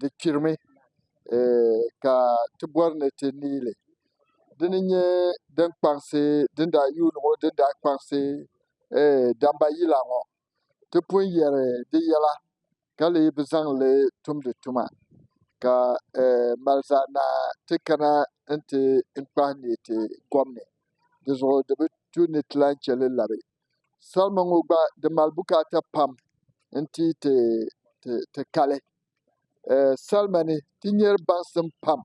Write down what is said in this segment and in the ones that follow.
di kpirimi ka ti bɔri ni ti neei li dini n-nyɛ din kpaŋsi din daa yuuni ŋɔ din daa kpaŋsi damba yila ŋɔ ti pun yɛri di yɛla ka lee bi zaŋ li tumdi tuma ka mali zaɣ' naa ti kana n-ti kpahi neei ti kom ni di zuɣu di bi tu ni ti lahi che li labi salima ŋo gba di mali bukaata pam n ti yi ti kali salima ni ti nyɛri baŋsim pam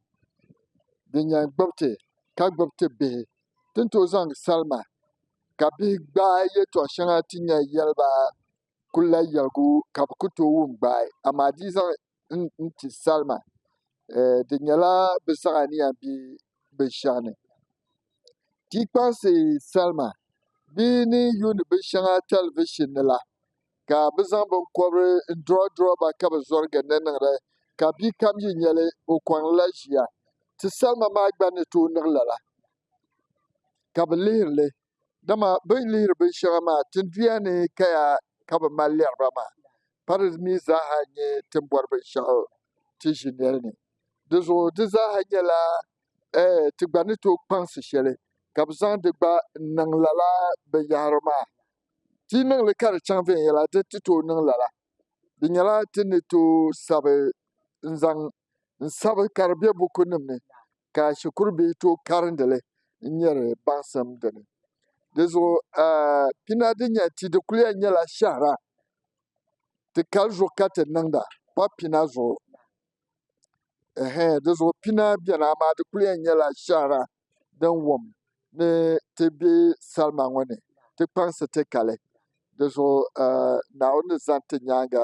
din yɛn gbubi ti ka gbubi ti bihi ti ni tooi zaŋ salima ka bihi gbaai yɛltɔɣa shɛŋa ti ni yɛn yɛli ba kulila yɛligu ka bɛ ku tooi wum gbaai, amaa di yi zaŋ n-ti salima, di nyɛla bɛ saɣi aniya m-be binshɛɣu ni. Ti yi kpaŋsi salima bɛ ni yuuni binshɛŋa tɛlivishin ni la, ka bɛ zaŋ biŋkɔbiri n-durɔdurɔ ba ka bɛ zɔri ginda niŋda ka bi'kam yi nya li, o kɔŋlila ʒiya. Ti salima maa gba ni tooi niɣi lala, ka bɛ lihiri li. Dama bɛ ni lihiri binshɛŋa maa tinduya ni kaya ka bɛ mali lɛri ba maa, pa di mi zaaha n-nyɛ ti ni bɔri binshɛɣu ti ʒi nɛli ni. Dinzuɣu di zaaha nyɛla ɛɛh ti gba ni tooi kpaŋsi shɛli ka bɛ zaŋ di gba n-niŋ lala binyɛhiri maa. Ti yi niŋ li ka di chaŋ viɛnyɛla di ti tooi niŋ lala. Di nyɛla ti ni tooi sabi n-zaŋ n-sabi ka di be bukunima ni ka shikuru bihi tooi karindi li n-nyari baŋsim di ni. Di zuɣu pina din nyɛ ti di kuli yɛn nyɛla shɛhira ti kali zuɣu ka ti niŋda kpab pina zuɣu. Di zuɣu pina beni amaa di kuli yɛn nyɛla shɛhira din wum ni ti be salima ŋɔ ni ti kpaŋsi ti kali. Di zuɣu Naawuni ni zani ti nyaaŋa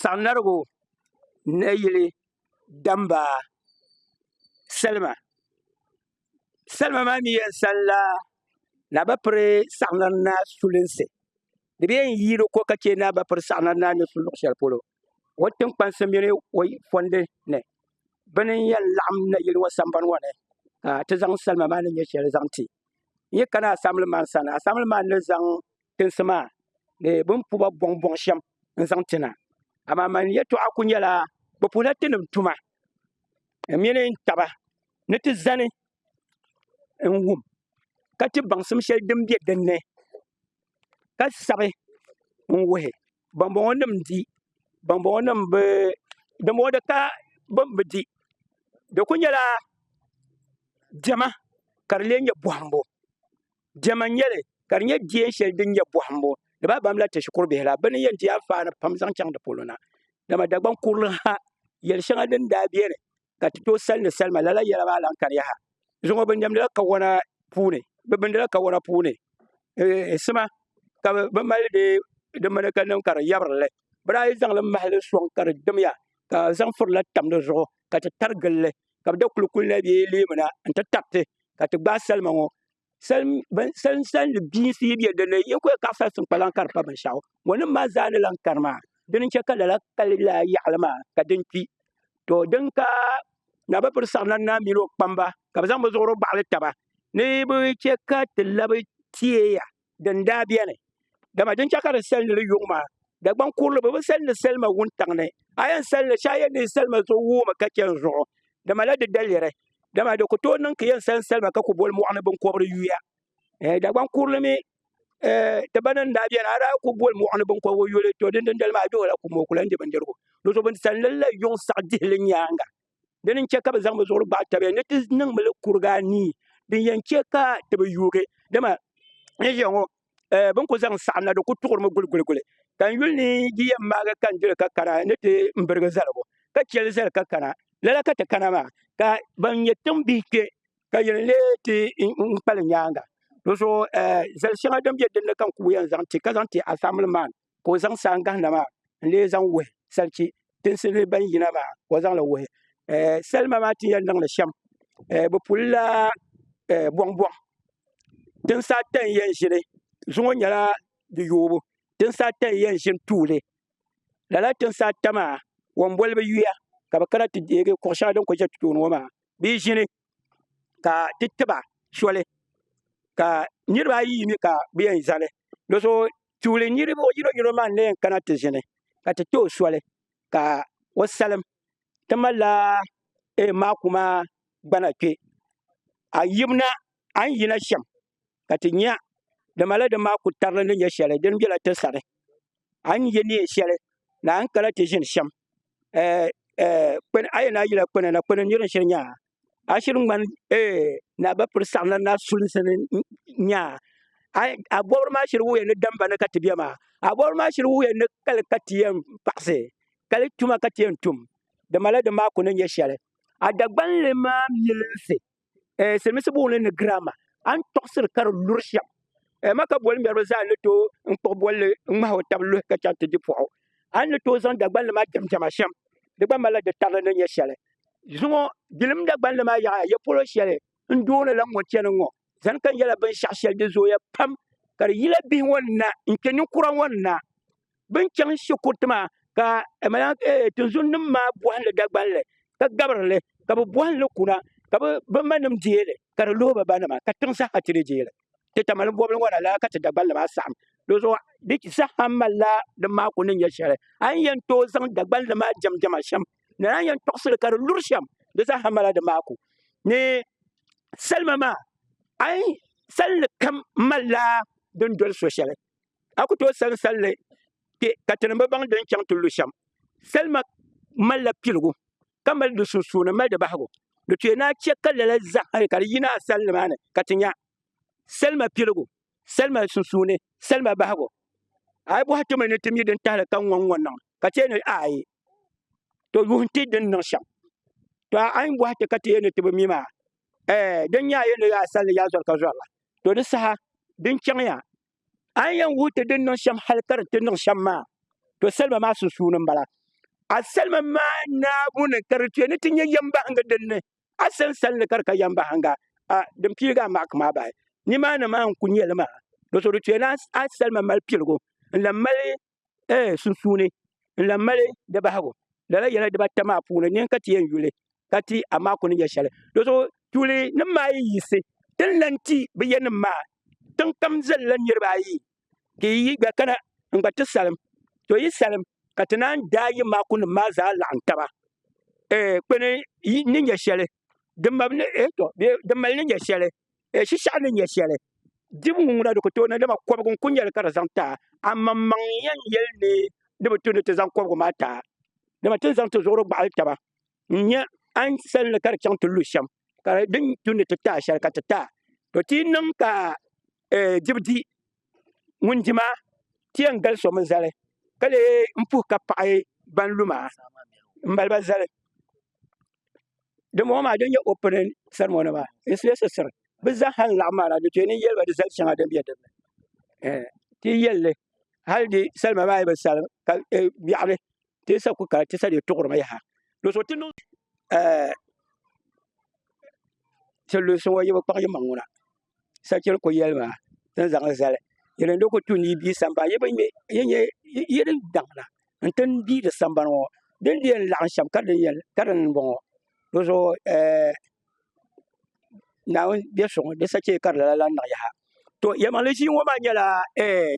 saɣim larigu nayili damba salima salima maa mi yɛn sanila naa bi piri saɣim lana naa sulinsi di bɛ yɛn yi di ko ka chɛ naa bi piri saɣim lana naa ni su luɣ shɛli polo o tinkpansi mini o fɔndi ni bɛ ni yɛn laɣim nayili ŋɔ sambani ŋɔ ni ka ti zaŋ salima maa ni nyɛ shɛli zaŋ ti n yi kana asambili man sani asambili man ni zaŋ tinsi maa ni bɛ ni puhi ba bɔŋ bɔŋ shɛm n-zaŋ ti na amaa man yɛltɔɣa kuli nyɛla bɛ puhila tinim tuma mini n taba ni ti zani n-wum ka ti baŋsim shɛli din be din ni ka sabi n-wuhi bambɔŋɔ nim di bambɔŋɔ nim bi dimbɔŋɔ di ka bɛn bi di di kuli nyɛla diɛma ka di lee nyɛ bɔhimbu diɛma n-nyɛ li ka di nyɛ deen shɛli din nyɛ bɔhimbu di ba bamla ti shikuru bihi la bɛ ni yɛn di anfaani pam zaŋ chaŋ di polo na dama Dagbaŋ kurili ha yɛl' shɛŋa din daa beni ka ti tooi sali ni salima lala yɛla maa lahi kani yaha zuŋɔ bi niɛmdila kawana puuni bi bindila kawana puuni sima ka bi mali dee di mini ka niŋ ka di yɛbirili bi daa yi zaŋli mahali soŋ ka di dimya ka zaŋ furila tam di zuɣu ka ti tari gilli ka bi da kuli kuli na bee leemuna n ti tariti ka ti gbaai salima ŋɔ salini bia n siyi bɛ dinni n nyɛla ka fɛs n kpalaŋ ka di pa binshaɣu mo nim maa zaa ni lahi kani maa di ni chɛ ka lala kali yaɣali maa ka din kpi to din ka naa bi piri namda naa mini o kpamba ka bi zaŋ bi zuɣuri baɣali taba ni bi chɛ ka ti labi tieya din daa biɛni dama din chɛ ka di sali ni li yuŋ maa Dagbaŋ kurili bi bi sali ni salima wuntaŋ ni a yɛn sali ni shɛli a yɛn niŋ salima zuɣu wuumi ka chɛni zuɣu dama la di daliri dama di ku tooi niŋ ka yɛn sali salima ka ku boli mɔɣuni binkɔbiri yuya eh, Dagbaŋ kurili mi eh, ti ba ni daa bɛni a daa ku boli mɔɣuni binkɔbiri yuli to din dindali maa duhila ku mɔɔ kula n-di bindirigu di zuɣu bin sali ni la yuŋ saɣi dihili nyaaŋa dini n-chɛ ka bɛ zaŋ bɛ zuɣuri gbaai tabiya ni ti niŋ mi li kuriga anii din yɛn chɛ ka ti bi yuugi dama n ʒiya ŋɔ eh, bɛ ni ku zaŋ saɣim na di ku tuɣiri mi guliguliguli ka n yuli ni yi yɛn maagi ka n dili ka kana ni ti n birigi zaligu ka chɛ li zali ka kana lala ka ti kana maa ka ban nyɛ tiŋ bihi kpe ka yɛn lee ti n kpali nyaaŋa di zuɣu eh, zali shɛŋa din be din ni ka n ku yɛn zaŋ ti ka zaŋ ti a family man ka o zaŋ saha gahina maa n lee zaŋ wuhi salichi tinsi ni ban yina maa ka o zaŋli wuhi salima maa ti yɛn niŋdi shɛm bi pulila bɔŋ bɔŋ tinsi ata n yɛn ʒini zuŋɔ nyɛla di yoobu tinsi ata n yɛn ʒini tuuli lala tinsi ata maa womboli bi yuya ka bi kana ti deegi kuɣu shɛŋa din kuli ʒɛ tooni ŋɔ maa bee ʒini ka ti tiba soli ka niraba ayi yi mi ka bi yɛn zali do so tuuli niraba yino yino maa n na yɛn kana ti ʒini ka ti too soli ka o salim ti malila maaku maa gbana kpɛ a ni yina shɛm ka ti nya di mala din maa ku tarili ni nyɛ shɛli din bela ti sani a ni ye neen shɛli ni a ni kana ti ʒini shɛm eh, eh, kpɛni a yɛn na yila kpɛna na kpɛni nir shiri nyaa a shiri ŋmani eh, na bi piri saɣim la na sulinsi ni nyaa a a bɔbiri maa shiri wuhiya ni damba ni ka ti bɛ maa a bɔbiri maa shiri wuhiya ni kali ka ti yɛn paɣisi kali tuma ka ti yɛn tum di mala din maa ku ni nyɛ shɛli a dagbanli maa milinsi eh, silimiinsi booni ni grammar an tɔɣisiri ka di luri shɛm eh, ma ka boli ŋmɛriba zaa ni tooi n kpuɣi bolli n ŋmahi o tabi luhi ka chaŋ ti di pɔɣu an ni tooi zaŋ Dagbanli maa jɛmjɛma shɛm di gba malila di tarili ni nyɛ shɛli zuŋɔ gilim Dagbanli maa yaɣa ya polo shɛli n doonila ŋɔ chɛni ŋɔ zani ka n yɛla binshɛɣu shɛli di zooya pam ka di yila bihi ŋɔ na n kpe ninkura ŋɔ na bin chaŋ shikuruti maa ka tinzun nim maa bohali Dagbanli ka gabirili ka bi bohali kuna ka bi ma nim deeli ka di luhi bi ba nima ka tiŋ saha ti di deeli ti tamali bobli ŋɔ na lala ka ti Dagbanli maa saɣam dizuɣu di saha malila di maa ku ni nyɛ shɛli a ni yɛn tooi zaŋ Dagbanli maa jɛm jɛma shɛm ni a yɛn tɔɣasili ka di luri shɛm di saha malila di maa ku ni salima maa a yi salli kam malila din doli so shɛli a ku tooi sani salli kpe ka ti ni bi baŋ din chaŋ ti lu shɛm. Salima malila piligu ka mali di sunsuuni mali di bahigu. Di tooi naai chɛ ka lala zahim hali ka di yina a salli maa ni ka ti nya salima piligu, salima sunsuuni, salima bahigu. A yi bɔhi ti mi ni ti mi din tahili ka ŋɔ ŋɔ niŋ ka ti yɛn ni aai to yuhi n-ti din niŋ shɛm. To a yi bɔhi ti ka ti yɛn ni ti bi mi maa, ɛɛ, din nya a yɛn ni a salli yaa zɔri ka zɔri la. To di saha din chaŋ ya. A ni yɛn wuhi ti din niŋ shɛm hal ka di ti niŋ shɛm maa, to salima maa sunsuuni m-bala. A salima maa naabu ni ka di tuya ni ti nyɛ yɛmbahiŋga din ni a sansal ni ka di ka yɛmbahiŋga a din piiligi a maaki maa bahi. Nimaani maa n-kul nyɛ li maa, do so di tuya ni a salima mali piligu n-lan mali eh, sunsuuni n lan mali di bahigu. Lala yɛla dibata maa puuni ni n ka ti yɛn yuli ka ti, amaa ku ni nya shɛli. Dɔzuɣu tuuli nim maa yi yiɣisi ti ni lan ti bɛ ya nim maa, tiŋ kam zalila niriba ayi ka yi gba kana n gba ti salim. To yi salim ka ti naan daai yi maakunim maa zaa laɣim taba eh, kpe ni yi ni nya shɛli. din mali ni nyɛ shɛli shishɛɣu ni nyɛ shɛli dibu ŋɔ na di ku tooi niŋ dama kɔbigu n-kuli nyɛ li ka di zaŋ ti a amaŋmaŋ n-yɛn yɛli ni di bi tu ni ti zaŋ kɔbigu maa ti a dama ti ni zaŋ ti zuɣuri gbaɣili taba n-nyɛ a ni sal li ka di chaŋ ti lu shɛm ka di ni tu ni ti ti a shɛli ka ti ti a to ti yi niŋ ka dibu di ŋun di maa ti yɛn gali so mini zali ka lee n puhi ka paɣi ban lu maa n maliba zali dimbɔŋɔ maa din nyɛ opening ceremony maa it's necessary bi zaaha n laɣim maa na di tooi niŋ yɛliba di zali shɛŋa din bɛ din ni eh, ti yɛlli hali di salima maa yi bi salim ka eh, biɛɣili ti sa ku ka ti sa di tuɣirimi yaha do so ti niŋ eh, ti lu so ŋɔ yi bi kpaɣi yimaŋ ŋuna sakiri ku yɛli maa ti ni zaŋli zali yi ni di ku tu ni yi bia sambani yi ni daŋda n ti bia di sambani ŋɔ di ni di yɛn laɣim shɛm ka dini n bɔŋɔ di zuɣu Naawuni biɛ so ŋɔ di sacheei ka di lala lan niŋ yaha to yɛlimaŋli ʒii ŋɔ maa nyɛla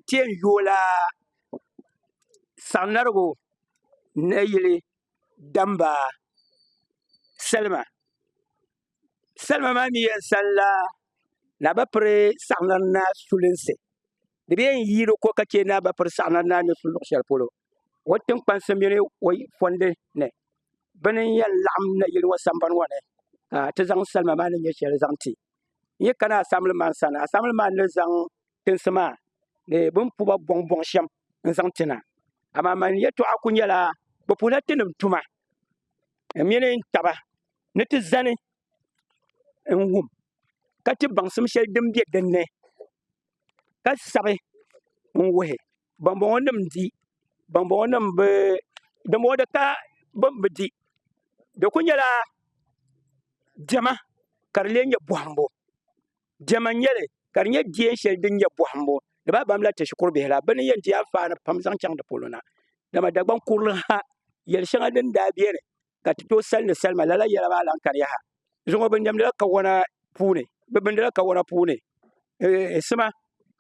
ti yɛn yoola saŋmarigu nayili damba salima salima maa ni yɛn sani la na bi piri saɣana ni na sulinsi di bɛ yɛn yiili ko ka chɛ na bi piri saɣana ni na ni su luɣu shɛli polo o tinkpansi mini o fɔndi ni bi ni yɛn laɣam na yili ŋɔ sambani ŋɔ ni ka ti zaŋ salima maa ni nyɛ shɛli zaŋ ti n yi kana asamli maa sani asamli maa ni zaŋ tinsi maa ni bin puba bɔŋ bɔŋ shɛm n zaŋ ti na amaa man yɛtɔɣa ku nyɛla bi puhila tinim tuma di mini taba ni ti zani n wum ka ti baŋsim shɛli din bɛ dinni ka sabi n wuhi banboŋo nim n di banboŋo nim bi dinbɔŋɔ di ka bin bi di di ku nyɛla diɛma ka di lee nyɛ bohambu Diɛma n-nyɛ li, ka di nyɛ diɛn shɛli din nyɛ bɔhimbu ni bɛ abamla ti shikuru bihi la, bɛ ni yɛn di anfaani pam zaŋ chaŋ di polo na. Dama Dagbaŋ kurili ha yɛl shɛŋa din daa beni ka ti tooi sali ni salima, lala yɛla maa lan kariya ha. Zuŋɔ bɛ nɛmdila kawana puuni, bɛ bindila kawana puuni sima,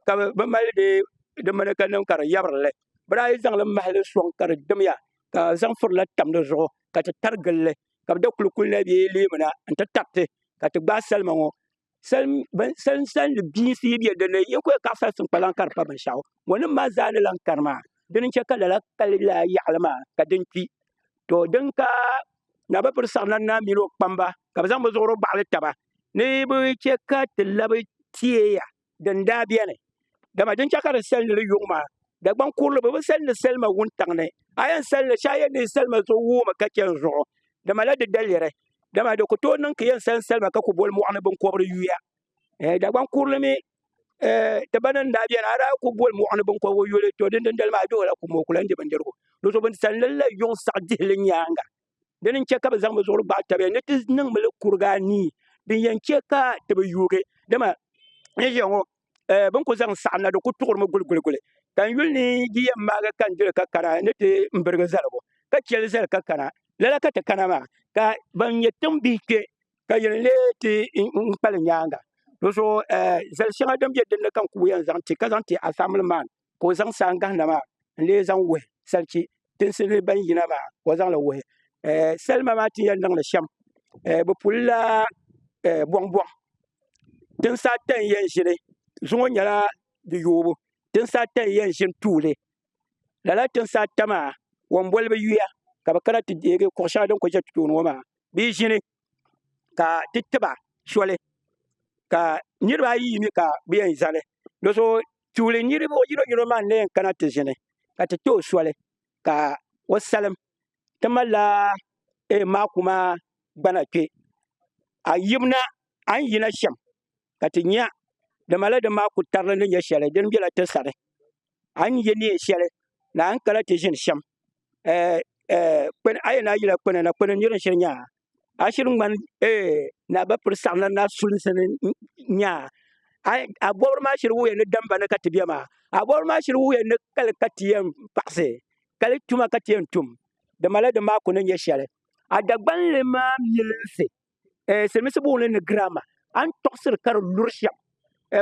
ka bɛ mali di mini ka niŋ ka di yabiri li. Bɛ daa yi zaŋ li mahi li sɔŋ ka di dimya, ka zaŋ firila tam di zuɣu ka ti tari gili li, ka bɛ da kulikuli na bee leemuna nti tariti ka ti gbaai salima ŋɔ Salin gbinsi yi bɛ dinni yi ni ku kaɣasa n siŋ kpalaŋ ka di pa binshaɣu mo nim maa zaa ni lahi kani maa dini n chɛ ka lala kali yaɣali maa ka din kpi to din ka na bi piri saɣam naa mini o kpamba ka bi zaŋ bi zuɣuri gbaɣali taba ni bi chɛ ka ti labi tieya din daa beni, dama din chɛ ka di sali ni di yuŋ maa, Dagbaŋ kurili bi bi sali ni salima wuntaŋ ni, a yɛn sali li shee a yɛn neei salima so wuumi ka chɛ n zuɣu, di malila di daliri, dama di ku tooi niŋ ka yɛn sali salima ka ku boli mɔɣuni binkɔbiri yuya. Eh, Dagbaŋ kurili mi, eh, ti ba ni n daa beni, a daa ku boli mɔɣuni binkɔbigu yuli, to din dindali maa a duhi la kum o ku lan di bindirigu, di zuɣu bɛ ni sali ni la yuŋ saɣi dihili nyaaŋa. dini n-chɛ ka bɛ zaŋ bɛ zuɣuri gbaai tabiya ni ti niŋ mi li kuriga anii din yɛn chɛ ka ti bi yuugi dama n ʒiya ŋɔ eh, bini ku zaŋ saɣim na di ku tuɣiri mi guliguliguli ka n yuli ni yi yɛn maagi ka n dili ka kana ni ti n birigi zaligu ka chɛ li zali ka kana lala ka ti kana maa ka ban nyɛ tiŋ bihi kpe ka yɛn lee ti n kpali nyaaŋa di zuɣu eh, zali shɛŋa din be din ni ka n ku yɛn zaŋ ti ka zaŋ ti asaamili maan ka o zaŋ saha gahina maa n lee zaŋ wuhi salichi tinsi ni ban yina maa ka o zaŋli wuhi salima maa ti yɛn niŋdi shɛm bi pulila bɔŋbɔŋ tinsi ata n yɛn ʒini zuŋɔ nyɛla di yoobu tinsi ata n yɛn ʒini tuuli lala tinsi ata maa wo n boli bi yuya ka bi kana ti deegi kuɣu shɛŋa din kuli ʒɛ tooni ŋɔ maa di ʒini ka ti tiba soli ka niraba ayi yi mi ka bi yɛn zali di zuɣu tuuli niraba yino yino maa n na yɛn kana ti ʒini ka ti too soli ka o salim ti malila maaku maa gbana kpɛ a ni yina shɛm ka ti nya dama lala din maa ku tarili ni nyɛ shɛli din bela ti sani a ni ye neen shɛli ni a ni kana ti ʒini shɛm eh, eh, kpɛn a yɛn a yila kpɛna na kpɛna nir shiri nyaa a shiri ŋmani eh, na ba piri saɣim na na sulinsi ni nyaa a a bɔbiri maa shiri wuya ni damba ni ka ti bɛ maa a bɔbiri maa shiri wuya ni kali ka ti yɛn paɣisi kali tuma ka ti yɛn tum dama lala din maa ku ni nyɛ shɛli a dagbanli maa milinsi silimiinsi booni ni girama a ni tɔɣisiri ka di luri shɛm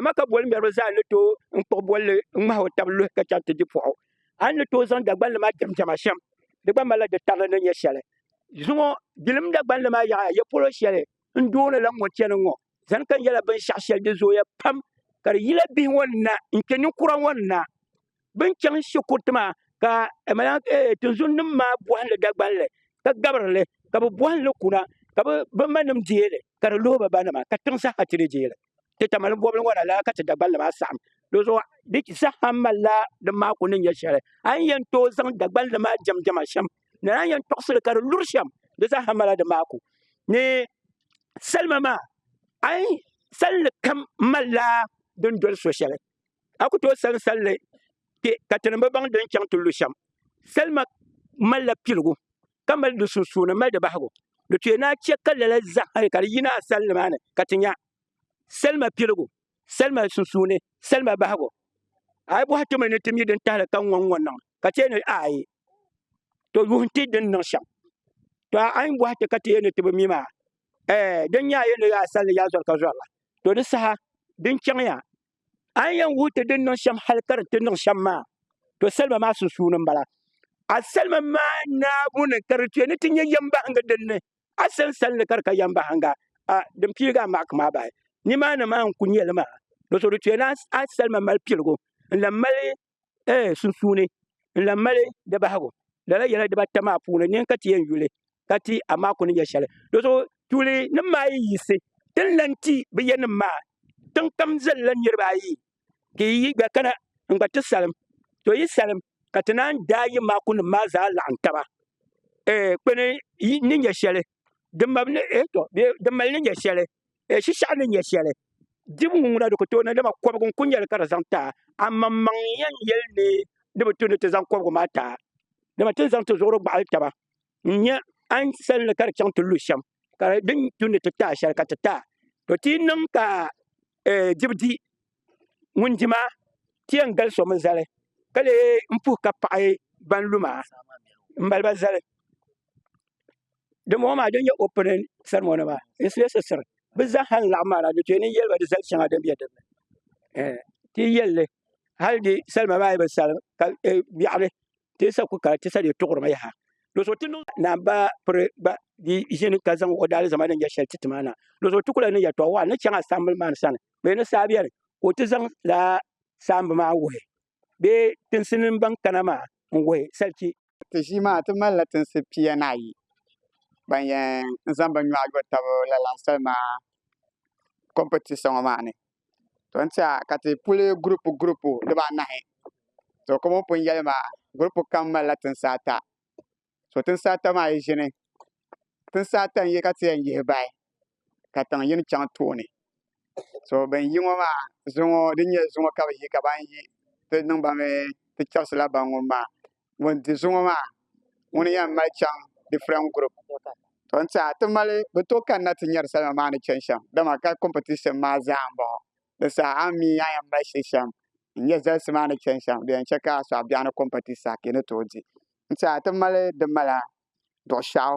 maka boli ŋmɛriba zaa ni tooi n-kpuɣi bolli ŋmahi o taba luhi ka chaŋ ti di puɣu a ni tooi zaŋ Dagbanli maa diɛmdiɛma shɛm di gba malila di tarili ni nyɛ shɛli zuŋɔ dilim Dagbanli maa yaɣa ya polo shɛli n doonila ŋɔ chani ŋɔ zani ka nyɛla binshɛɣu shɛli di zooya pam ka di yila bihi ŋɔ ni na n-kpe ninkura ŋɔ ni na bin chaŋ shɛ kuriti maa ka tinzun nim maa bohali Dagbanli ka gabirili ka bi bohali kuna ka bi ma nim deeli ka di luhi bi ba nima ka tiŋ saha ti ni deeli ti tamali bobli ŋɔ na lala ka ti Dagbanli maa saɣam dizuɣu di saha malila di maa ku ni nyɛ shɛli a ni yɛn tooi zaŋ Dagbanli maa jɛm jɛma shɛm ni a yɛn tɔɣasili ka di luri shɛm di saha malila di maa ku ni salima maa ai salli kam malila din doli so shɛli a ku tooi sani salli kpe ka ti ni bi baŋ din chaŋ ti lu shɛm. Salima malila piligu ka mali di sunsuuni mali di bahigu. Di tooi naai chɛ ka lala zahim hali ka di yina a salli maa ni ka ti nya salima piligu, salima sunsuuni, salima bahigu. A yi bɔhi ti mi ni ti mi din tahili ka ŋɔ ŋɔ niŋ ka ti yɛn ni aai to yuhi n-ti di ni niŋ shɛm. To a yi bɔhi ti ka ti yɛn ni ti bi mi maa, ɛɛ, din nya a yɛn ni yaa salli yaa zɔri ka zɔri la. To di saha din chaŋ ya. A ni yɛn wuhi ti din niŋ shɛm hal ka di ti niŋ shɛm maa, to salima maa sunsuuni m-bala. A salima maa naabu ni ka di tuya ni ti nyɛ yɛmbahinga din ni a sansali ni ka di ka yɛmbahinga a din piigi a maaki maa bahi. Nimaani maa n-ku nyɛ li maa. Doso di tuya ni a salima mali piligu n-lan mali ee sunsuuni n lan mali di bahigu. Lala yɛla dibata maa puuni ni n ka ti yɛn yuli ka ti, amaa ku ni nyɛ shɛli. Dɔzuɣu tuuli nim maa yi yiɣisi ti ni lan ti bɛ ya nim maa, tiŋkam zalila niriba ayi ka yi gba kana n gba ti salim. To yi salim ka ti naan daai yi maakunim maa zaa laɣim taba ee kpe ni yi ni nyɛ shɛli. din mali ni nyɛ shɛli shishɛɣu ni nyɛ shɛli dibu ŋɔ na di ku tooi niŋ dama kɔbigu n-kuli nyɛ li ka di zaŋ taai amaŋmaŋ n-yɛn yɛli ni di bi tu ni ti zaŋ kɔbigu maa taai dama ti ni zaŋ ti zuɣuri gbaɣili taba n-nya a ni sani li ka di chaŋ ti lu shɛm ka di ni tu ni ti taai shɛli ka ti taai to ti yi niŋ ka dibu di ŋun di maa ti yɛn gali so mini zali ka lee puhi ka paɣi ban lu maa m-maliba zali dimbɔŋɔ maa din nyɛ opinin sɛrimoni maa n-silisisiri bɛ zaaha n-laɣim maa na di tooi ni yɛli ba di zali shɛŋa din be din ni ti yi yɛlli hali di salima maa yi bi sali ka biɛɣuni ti sa ku ka ti sa di tuɣirima yaha. Doso ti niŋ naan ba piri gba di ʒini ka zaŋ o daalizama din nyɛ shɛli ti ti maa na. Doso ti ku la ni yɛtɔɣ waɣa ni chaŋ a saambil maa ni sani bee ni saa bɛni ka o ti zaŋ la saamb maa wuhi bee tinsi ni ban kana maa n-wuhi salichi. Ti ʒii maa ti mali la tinsi pia ni ayi ban yɛn zaŋ bin nyɔɣu yo tab lala salima kɔmpitisa ŋɔ maa ni. to n tiɛha ka ti puli gurupu gurupu dibaanahi to ka bin pun yɛli maa gurupu kam malila tinsi ata so tinsi ata maa yi ʒini tinsi ata n yi ka ti yɛn yihi bahi ka tiŋ yini chɛŋ tooni so bin yi ŋɔ maa zuŋɔ din nyɛ zuŋɔ ka bi yi ka ban yi ti niŋ ba mii ti chɛbisila ban ŋun maa ŋun di zuŋɔ maa ŋuni yɛn mali chaŋ different group to n tiɛha ti mali bi to kanna ti nyari salima maa ni chani shɛm dama ka competition maa zaa n bɔŋɔ di saha a ni mi a yɛn mali shili shɛm n nyɛ zalisi maa ni chani shɛm di yɛn chɛ ka a sɔɣi biɛɣuni competition ka yi ni tooi di n tiɛha ti mali di mala duɣu shɛɣu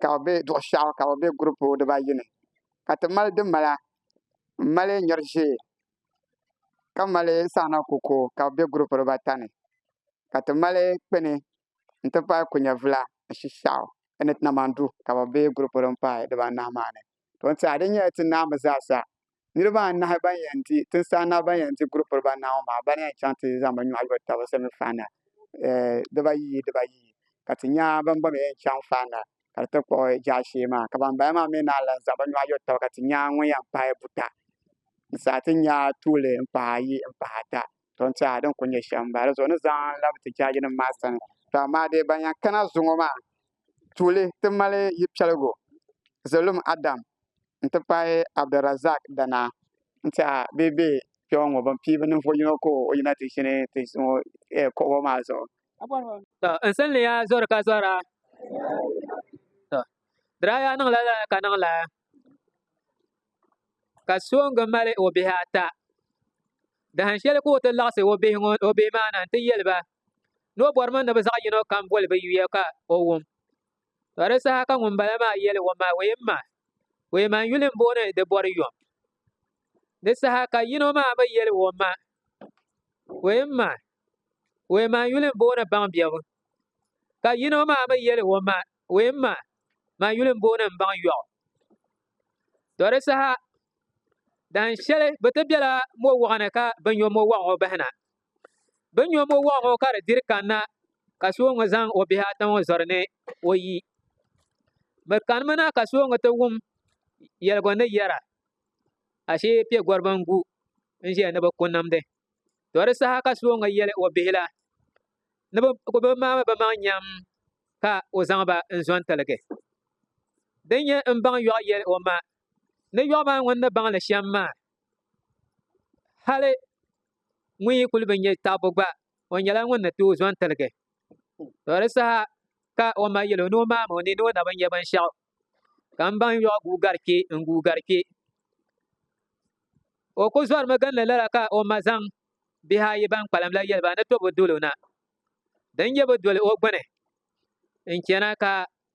ka bi bɛ duɣu shɛli ka bi bɛ group diba ayi ni ka ti mali di mala n mali nyɛri ʒee ka mali saana kuku ka bi bɛ group diba ata ni ka ti mali kpini n ti pahi kunyɛ vila ni shishɛɣu ni ti na mani du ka bi bɛ group din pahi diba anahi maa ni to n tiɛha di nyɛla ti naa mi zaa sa. Niriba anahi ban yɛn di tinsi anahi ban yɛn di guri piliba anahi ŋɔ maa bana yɛn chaŋ ti zaŋ bɛ nyɔhi lo taba semi final dibaayi dibaayi ka ti nya ban gba mi yɛn chaŋ final ka di ti kpuɣi jaashee maa ka ban bala maa mi naan lan zaŋ bɛ nyɔhi lo taba ka ti nya ŋun yɛn paai buta n-saha ti nya tuuli m-pahi ayi m-pahi ata to n tiɛha din kuli nyɛ shɛm n bala zuɣu ni zaŋ labi ti jaaji nim maa sani to amaa dee ban yan kana zuŋɔ maa tuuli ti mali yi piɛligu zalum adam n ti pahi abdirazak dana n tiɛha bee bɛ kpɛwa ŋɔ bin pii bi ninvuɣu yino ka o yina ti ʒini ti zuŋɔ eh, kuɣubo maa zuɣu to n sinliya zori ka zora to diraya niŋla la ka niŋla ka soŋgi mali o bihi ata dahin shɛli ka o ti laɣasi o bihi maa na n ti yɛli ba ni o bɔri mi ni bi zaɣ yino kam boli bi yuya ka o wum ka di saha ka ŋunbala maa yɛli o ma o yɛn ma o yɛn ma n yuli n booni di bɔri yom di saha ka yino maa mi yɛli o ma o yɛn ma o yɛn ma n yuli n booni baŋ biɛbu ka yino maa mi yɛli o ma Wee ma, ma yuli m-booni m baŋ yɔɣu. Tɔ di saha, dan shɛli bɛ ti bela mo wɔɣu ni ka bɛ nyo mo wɔɣu ŋɔ bahi na. Bɛ nyo mo wɔɣu ŋɔ ka di diri kanna ka Sooŋa zaŋ o bihi ata ŋɔ zɔri ni o yi. Bɛ kanimi na ka Sooŋa ti wum yɛligu ni yɛra, Ashee piɛgɔriba n-gu n-ʒiya ni bɛ ku nimdi. To di saha ka so ŋɔ yɛli o bihi la ni bɛ ku bɛ maami bɛ maŋ nyam ka o zaŋ ba n-zo n-tiligi. Din nyɛ m-baŋ yɔɣ yɛli o ma ni yɔɣ maa ŋun ni baŋ li shɛm maa, hali ŋun yi kuli bi nyɛ taɣibu gba, o nyɛla ŋun ni tooi zo n-tiligi. To di saha ka o ma yɛl o ni o maami o ni ni o na bi nyɛ binshɛɣu. ka n baŋ yɔɣu guugari kpe n guugari kpe o ku zɔrimi ginli lala ka o ma zaŋ bihi ayi ban kpalim la yɛli ba ni tobu dolo na din nyɛ bi doli o gbuni n chɛna ka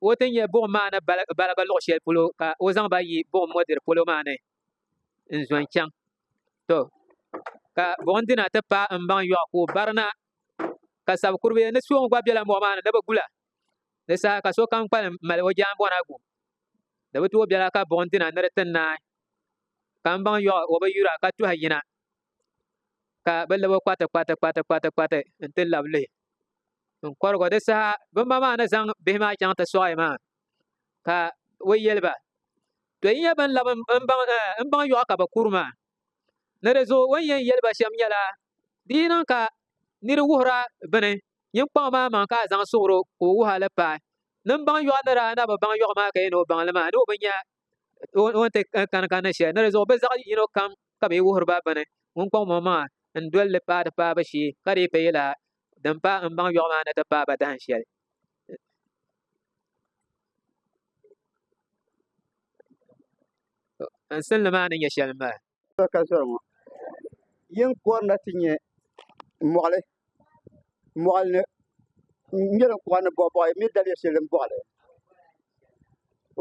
o ti nyɛ buɣum maa ni baligi luɣ shɛli polo ka o zaŋ ba yi buɣum mɔdiri polo maa ni n zo n chaŋ to ka buɣum dina ti paai n baŋ yɔɣu ka o barina ka sab kuribi ni suɣum gba bela mɔɣu maa ni ni bi gula Di saha ka sokam kpalim mali o jaanbɔna gu. Di bi tooi bela ka buɣim dina ni di ti naai. Kambaŋ yɔɣ o bi yura ka tuhi yina ka bɛ lab o kpati kpati kpati kpati kpati nti lab lihi n-kɔrig o. Di saha bɛ ma maa ni zaŋ bihi maa chaŋ ti sɔɣi maa ka o yɛli ba, To yi nyɛ bɛn lab m-baŋ eh, yɔɣ ka bɛ kuri maa. Ni di zuɣu o ni yɛn yɛli ba shɛm nyɛla Di yi niŋ ka nir wuhir a bini, nyiŋkpaŋ maa maŋ ka a zaŋ suhir o ka o wuh a li paai. Nin baŋ yɔɣu ni daa na bi baŋ yɔɣu maa ka yi ni o baŋ li maa, ni o bi nya o ni ti kani kanni shɛli. Ni di zuɣu bɛ zaɣ yino kam ka bɛ yi wuhir ba bini, ŋunkpaŋ maŋ maŋ a n-doli li paai di paabu shee, ka di yi ka yɛla din pa m baŋ yɔɣu maa ni ti paai ba dahin shɛli. N sini li maa ni nyɛ shɛli m mali. Soli ka zɔri ŋɔ yin kɔrina ti nyɛ mɔɣili mɔɣili ni n-nyɛ din kɔɣi ni bɔɣibɔɣi mi daliya shɛli din bɔɣili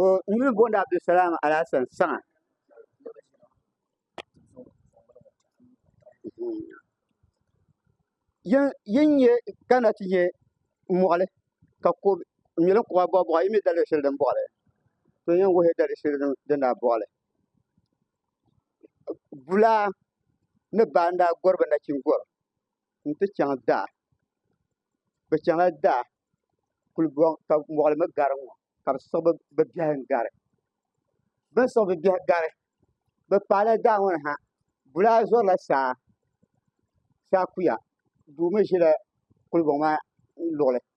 o nini booni Abdulsalam Alasan Saŋa yin nyɛ kana ti nyɛ mɔɣili ka ko nyɛ din kɔɣi bɔɣibɔɣi mi daliya shɛli din bɔɣili to yin wuhi daliya shɛli din daa bɔɣili bulaa ni baanda gɔri ba nachin gɔri n-ti chaŋ daa bɛ chaŋla daa kuli bɔŋ ka mɔɣili mi gari ŋɔ ka bɛ siɣi bɛ biɛhi n-gari bɛ ni siɣi bɛ biɛhi gari bɛ paala daa ŋɔ ni ha bulaa zɔrila saa saa kuya doo mi ʒila kuli bɔŋ maa luɣili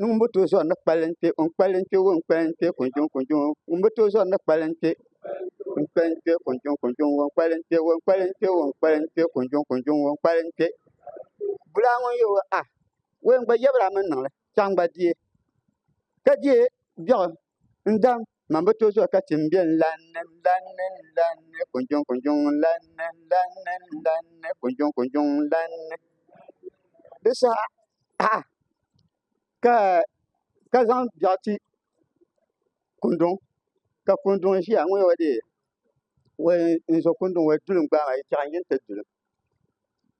ŋun bi tooi zɔri ni kpalim kpɛ ŋun kpalim kpɛ ŋɔ n kpalim kpɛ kunzuŋ kunzuŋ ŋun bi tooi zɔri ni kpalim kpɛ ŋun kpalim kpɛ kunzuŋ kunzuŋ ŋɔ n kpalim kpɛ ŋɔ n kpalim kpɛ ŋɔ n kpalim kpɛ kunzuŋ kunzuŋ ŋɔ n kpalim kpɛ bulaa ŋun yɛ a wɛn gba yɛbira a mini niŋli chaŋ gba diɛ ka diɛ biɛɣu N dam, man bi to zuɣu ka ti n bɛ n lan ni, n lan ni, n lan ni, kunjuŋ kunjuŋ n lan ni, n lan ni, n lan ni, kunjuŋ kunjuŋ n lan ni. Di saha ha ka ka zaŋ biɛɣu ti kunduŋ ka kunduŋ ʒiya ŋun yɛ o deei wai n zo kunduŋ wai duli n gbaai maa yi chɛɣu n yi ni ti duli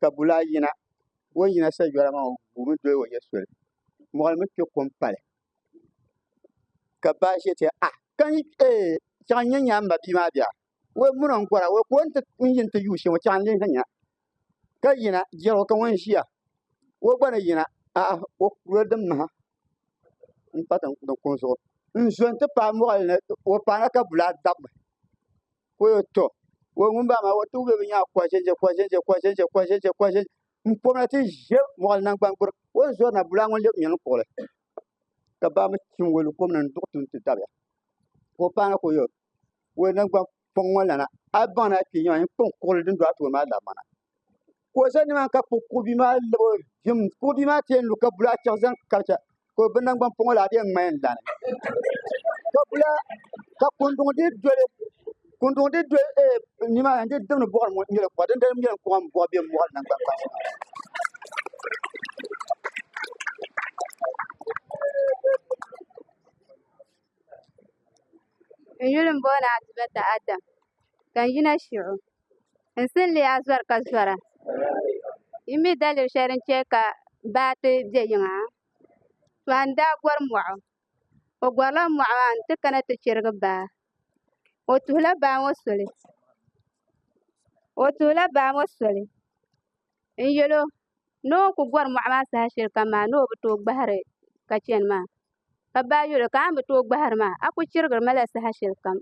ka bulaa yina o yina sa yɔra maa o guumi doli o yɛ soli mɔɣili mi kpɛ kom pali ka ba ʒe ti a ka n ee chaŋ n nya nya m ba bia maa bia wei muna n kɔra wei ko n ti n yin ti yuui shɛm chaŋ n lihi nya ka yina jɛro ka ŋun ʒiya wei gba ni yina a o kuro din maha n pa tin kuŋ zuɣu n zo n ti paai mɔɣili ni o paana ka bulaa dabmi ko yo to wei ŋun ba maa wei ti wubɛ bi nyaa kɔʒɛnʒɛ kɔʒɛnʒɛ kɔʒɛnʒɛ kɔʒɛnʒɛ kɔʒɛnʒɛ n kɔmina ti ʒe mɔɣili naŋgbangbur o ni zɔri na bulaa ŋun lɛb nyɛlin kuɣili ka baa mi tim wali kɔmina n duɣi tin ti dabiya ka o paana ka o yɔr wali naŋgban pɔŋ ŋɔ lana a baŋ ni a kpee nyɛma n kpaŋ kuɣili din do a tooni maa labimana ka o za nimaani ka kuɣi bia maa lab o vim kuɣi bia maa ti yɛn lu ka bulaa chaɣu zaŋ karicha ka o bi nangbani pɔŋɔ la bee ŋmayin lani ka bula ka kunduŋ di doli kunduŋ di doli ee nima n di dimni buɣari mu nyɛla kuɣa din dali nyɛla kuɣa n buɣa bɛ mɔɣari nangbani kpaŋa N yuli m-booni Atibata Adam, ka n yina Shiɣu. N si ni leei a zɔri ka zɔra. Yi mi daliri shɛli din chɛ ka baa ti be yiŋa? Tɔha n-daa gɔri mɔɣu. O gɔrila mɔɣu maa nti kana ti chirigi baa. O tuhila baa ŋɔ soli. O tuhila baa ŋɔ soli n-yɛl o ni o ku gɔri mɔɣu maa saha shɛli kam maa ni o bi tooi gbahiri ka chani maa. Ka baa yoli, Ka a ni bi tooi gbahiri maa, a ku chirigiri ma la saha shɛli kam.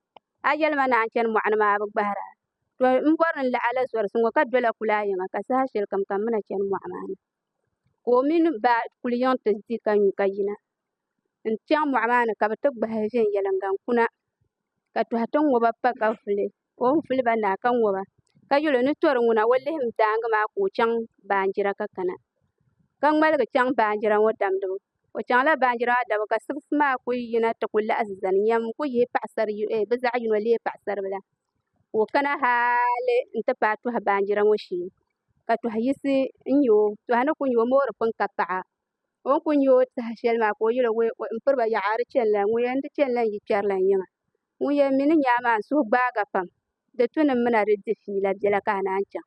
A yɛli ma ni a ni chani mɔɣu ni maa a bi gbahir a. To m bɔri ni n laɣ a la zɔrisi ŋɔ ka dola kulaa yiŋa ka saha shɛli kam ka m mi na chani mɔɣu maa ni. Ka o mini ba kuli yiŋ ti di ka nyu ka yina n-chaŋ mɔɣu maa ni ka bɛ ti gbahi viɛnyɛliŋga n-kuna ka tɔhi tiŋ ŋɔ ba pa ka vuli. ka o ni fili ba naa ka ŋɔ ba ka yɛl o ni tɔri ŋuna o lihim daaŋa maa ka o chaŋ baanjira ka kana, ka ŋmaligi chaŋ baanjira ŋɔ damdibu. O chaŋla baanjira maa damdibu ka sibisi maa ku yina ti ku laɣisi zani nyam n-ku yihi bɛ zaɣ yino leei paɣisaribila ka o kana haali nti paai tɔhi baanjira ŋɔ shee, ka tɔhi yisi n-nya o, tɔhi ni ku nya o moori pini ka paɣa. o ni kuli nyɛ o tiɛha shɛli maa ka o yɛli n piriba yaɣa a di chɛni la ŋun yɛn di chɛni la n yi kpɛri la n yiŋa ŋun yɛn mi ni nyaa maa n suhu gbaaga pam di tu ni n mina di di fiila biɛla ka a naan chaŋ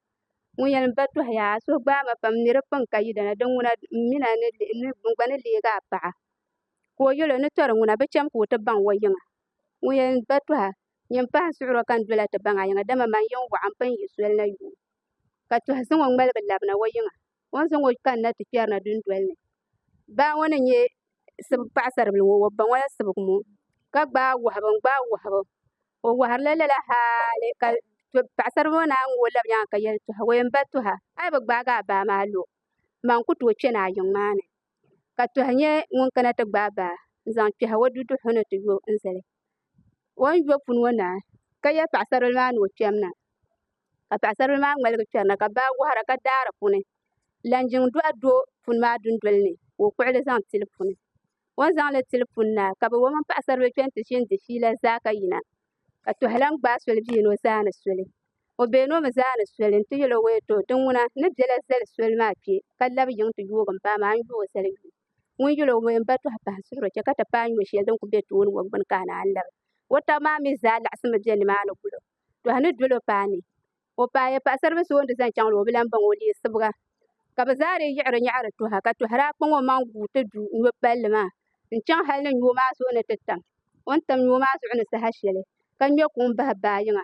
ŋun yɛn ba tɔhi yaa a suhu gbaai ma pam n ni di pini ka yidana di ŋuna n mina n gba ni leegi a paɣa ka o yɛli o ni tɔri ŋuna bi chɛm ka o ti baŋ o yiŋa ŋun yɛn ba tɔha nyin pahi n suɣuri o ka n dola ti baŋ a yiŋa dama man yɛn waɣa n pun yi soli na yuui ka tɔhi zaŋ o ŋmaligi labina o yiŋa o ni zaŋ o kanna ti kpɛri na dundoli ni baa ŋɔ ni nyɛ paɣasaribili ŋɔ o ba ŋɔ la sibigi ŋɔ ka gbaai wahubu n gbaai wahubu o waharila lala haali ka paɣasaribili ŋɔ naan ŋɔ o labi nyaanga ka yɛli o yɛn ba tuha a yi bi gbaagi a baa maa a lo maa n ku tooi kpɛ ni a yiŋ maa ni ka tɔha nyɛ ŋun kana ti gbaai baa n zaŋ kpɛhi o duduɣu ni ti yo n zali o ni yo puni ŋɔ naa ka yɛ paɣasaribili maa ni o kpɛm na ka paɣasaribili maa ŋmaligi kpɛri na ka baa waɣara ka daa di puuni laŋ jiŋ dɔɣu do puni maa dundoli ni ka o kpuɣili zaŋ tili puni o ni zaŋli tili puni naa ka bi o mini paɣasaribili kpɛni ti ʒini di fiila zaa ka yina ka tɔha lahi gbaai soli bɛ yino zaa ni soli O been o mi zaa ni soli nti yɛl o wee ti o, Di ŋuna ni bela zali soli maa kpe, ka lab yiŋ ti yoog m-paai ma, a ni yo o zali yuun. Ŋun yɛl o wee m-ba tɔhi pahi suhiri o chɛ ka ti paai nyuya shɛli din kul be tooni ŋɔ gbini ka a naan labi. Wɔtaɣ maa mi zaa laɣisimi be nimaani gul o. Tɔhi ni dol o paai ni o paai paɣisaribil so o ni di zaŋ chaŋ ni o bi lan baŋ o leei sibiga. Ka bɛ zaa dii yiɣiri nyaɣiri tɔha, ka tɔha daa kpaŋ o maŋ guui ti du nyo palli maa n-chaŋ hal ni nyo maa zuɣu ni ti tam. O ni tam nyo maa zuɣu ni saha shɛli, ka ŋme kuŋ bahi baa yiŋa,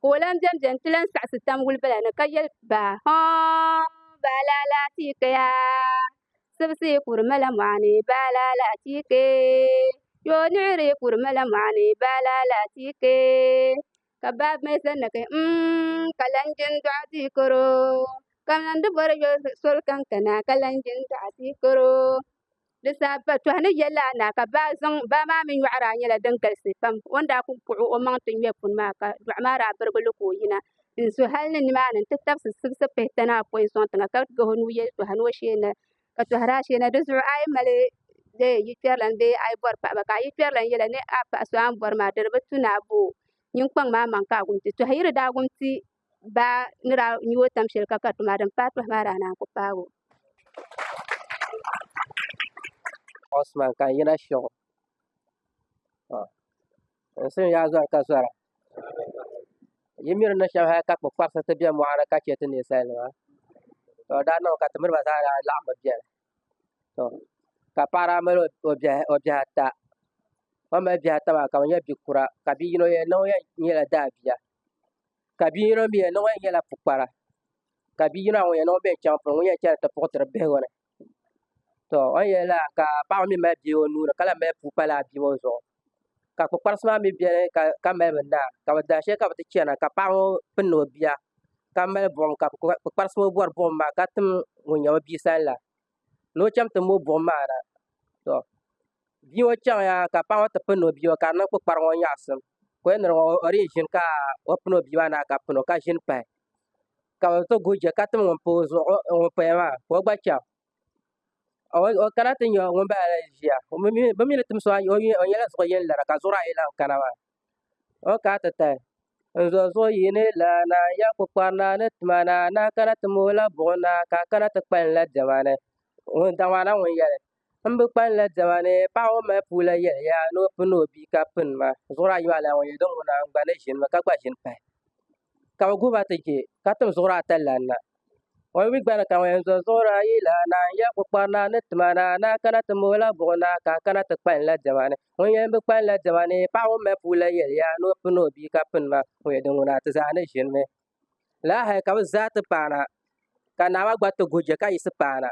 ka o lahi bɛnbɛ n-ti lahi saɣisi tam wulibila ni ka yɛli baa, hɔɔn baa laa laa tiika yaa sibisi kuri mala mɔɣini baa laa laa tiika yoo niɣiri kuri mala mɔɣini baa laa laa tiika ka baa mi zani na ka yɛli mm ka lan jin dɔɣi ti karo ka m lan di bɔri yo soli kankana ka lan jin dɔɣi ti karo. Di zaa ba tɔhi ni yɛli a naa ka baa zaŋ baa maa mi nyɔɣiri a nyɛla din galisi pam. O ni daa kul kpuɣi o maŋ ti ŋmɛ puni maa ka dɔɣi maa daa birigi li ka o yina n-zo hal ni nimaani nti tabisi sibisi pihi tani apɔin sɔŋ tiŋa ka gahi o nuu yɛli tɔha ni o sheei na ka tɔhi daa sheei na. Di zuɣu a yi mali yikpɛrilana bee a yi bɔri paɣa ba ka a yikpɛrilana yɛli a ni a paɣa so a ni bɔri maa di di bi tu ni a bo o nyiŋkpaŋ maa maŋ ka a gumti. Tɔhiyiri daa gumti baa ni daa nyu o tam shɛli ka ka tuma din paai pahi maa daa naan ku paag o. Osman ka n yina shɛgu n sin yaa zɔri ka zɔra yi miri ni shɛm hali ka kpukparisi ti bɛ mɔɣani ka chɛ ti ninsal nima to daa niŋ ka ti miriba zaa daa laɣam bi biɛni to ka paɣa daa mali o bihi ata o mali bihi ata maa ka bi nyɛ bia kura ka bia yino yɛn na o yɛn nyɛla daabia ka bia yino mii yɛn niŋ o yɛn nyɛla pukpara ka bia yino maa ŋun yɛn niŋ o mii yɛn chaŋ polo ŋun yɛn chɛni ti puɣutiri bihi ŋɔ ni to o ni yɛli lala ka paɣa ŋɔ mii mali bia o nuuni ka lahi mali puu pa laa bia ŋɔ zuɣu ka kpukpalisi maa mii biɛni ka mali bi naa ka bi daai shɛli ka bi ti chɛna ka paɣa ŋɔ pindi o bia ka mali buɣum ka kpukpalisi ŋɔ bori buɣum maa ka tim ŋun nyɛ o bia sani la ni o chɛŋ tim o buɣum maa na to Bia ŋo chɛŋya ka paɣa ŋo ti pindi o bia ŋo ka di niŋ kpukpari ŋo nyaɣasim ka o yɛn niŋ o ni yi ʒini ka o pini o bia maa naai ka pino ka ʒini pahi ka bi ti guui chɛ ka tim ŋun paya maa ka o gba chɛŋ o kana ti nyɛ ŋunbala ni ʒiya bi mii ni tim so maa o nyɛla zuɣu yɛn lara ka zuɣuri ayi lahi kana maa o ni kana ti tahi n zo zuɣu yi ni lan na n yɛli kpukpari naa ni ti ma naa na kana ti mali o la buɣum na ka a kana ti kpalim la diɛma ni ŋun daŋ maa na ŋun yɛli M bi kpalim la diɛma ni paɣ ŋun mali puu la yɛli ya ni o pini o bia ka pini ma zuɣuri ayi maa lana ŋun yɛli din ŋuna n gba ni ʒini mi ka gba ʒini pahi ka bɛ guhi ba ti je ka tim zuɣuri ata lana na o mi gba ni ka ŋun yɛn zɔri zuɣuri ayi la naa n yɛli kukpari naa ni ti ma naa ni a kana ti m o la buɣi naa ka a kana ti kpalim la diɛma ni ŋun yɛli m bi kpalim la diɛma ni paɣ ŋun mali puu la yɛli ya ni o pini o bia ka pini ma ŋun yɛli din ŋuna ti zaa ni ʒini mi lala hali ka bi zaa ti paana ka naa maa gba ti guui chɛ ka yiɣisi paana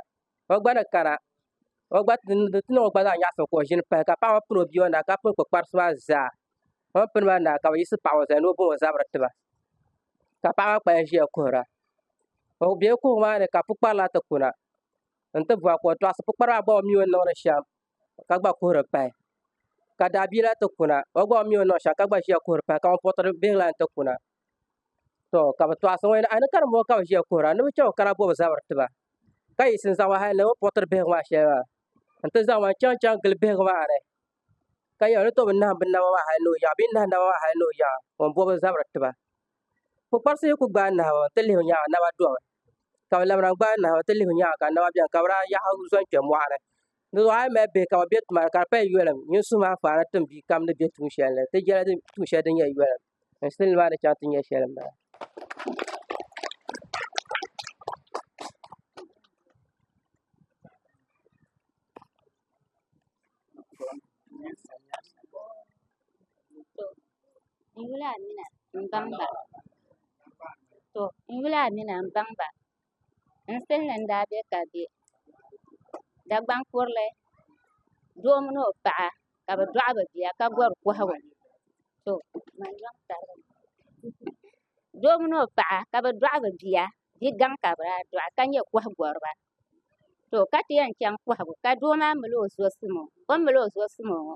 o gba ni kana o gba ni di ti niŋ o gba zaa nyaɣa soli ka o ʒini pahi ka paɣa ŋo pini o bia ŋo naa ka pini kpakparisi maa zaa o ni pini maa naa ka bi yiɣisi paɣa ŋo zali ni o boŋ o zabiri tiba ka paɣa maa kpalim ʒiya kuhura o biɛla kuhuri maa ni ka pukpari lahi ti kuna n ti bora ka o tɔɣisi pukpari maa gba o mii o ni niŋdi shɛm ka gba kuhuri pahi ka daabia lahi ti kuna o gba o ni mii ni niŋ shɛm ka gba ʒiya kuhuri pahi ka ŋun puɣu tiri bihi lahi ti kuna to ka bi tɔɣisi ŋɔ yɛli a ni ka dinbɔŋɔ ka bi ʒiya kuhura ni bi chɛ o kana bobi zabiri tiba ka yiɣisi n zaŋ ma hali ni o ni puɣu tiri bihigu maa shɛli maa n ti zaŋ ma n chɛŋ chɛŋ gili bihigu maa ni ka yɛli o ni tooi bi naham bi naba maa hali ni o yaɣa bee n nahi naba maa hali ni o yaɣa o ni bobi zabiri tiba kpukparisi yi ku gbaai nahama n ti lihi nyaanga naba domi ka bi lamina n gbaai nahama n ti lihi nyaanga ka naba biɛni ka bi daa yaɣa zɔn kpɛ moɣani Di zuɣu a yi mali bihi ka bi bɛ tuma ni ka di pali yɔlim nyin suhu maa faana tim bia kam ni bɛ tuun shɛli ni ti jɛli di tuun shɛli din nyɛ yɔlim n sili ni maa ni chaŋ ti nyɛ shɛli n bala. N yuli Amina m baŋ ba. N pilli n daa bɛ ka bɛ Dagbaŋ kurili doo mini o paɣa ka bi dɔɣi bi bia ka bɔri kɔhigu doo mini o paɣa ka bi dɔɣi bi bia bia gaŋ ka bi daa dɔɣi ka nyɛ kɔhi gɔriba to ka ti yɛn chaŋ kɔhigu ka doo maa mali o zuɣu simo o ni mali o zuɣu simo ŋɔ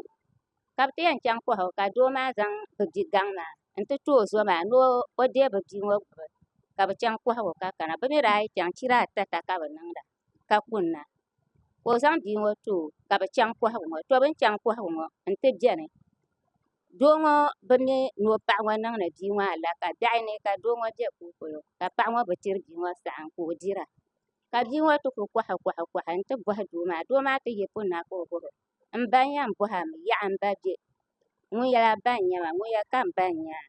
ka bi ti yɛn chaŋ kɔhigu ka doo maa zaŋ bi bia gaŋ maa. n ti kpɛ o zo maa ni o deei bi bia ŋo gbubi ka bi chɛŋ kohagu ka kana bi mii daa yi chɛŋ chira ata ata ka bi niŋda ka kunna ka o zaŋ bia ŋo too ka bi chɛŋ kohagu ŋo to bin chɛŋ kohagu ŋo n ti biɛni doo ŋo bi mii ni o paɣa ŋo niŋdi bia ŋo alaka daɣi ni ka doo ŋo bɛ kolikolo ka paɣa ŋo bi chɛri bia ŋo saɣam ka o dira ka bia ŋo ti ku kuhi kuhi n ti bohi doo maa doo maa ti yi punna ka o bobo M ba n yɛn bɔhi a mi yaɣa m ba bɛ ŋun yɛli a ba n nyɛ ma ŋun yɛli ka m ba n nyɛ a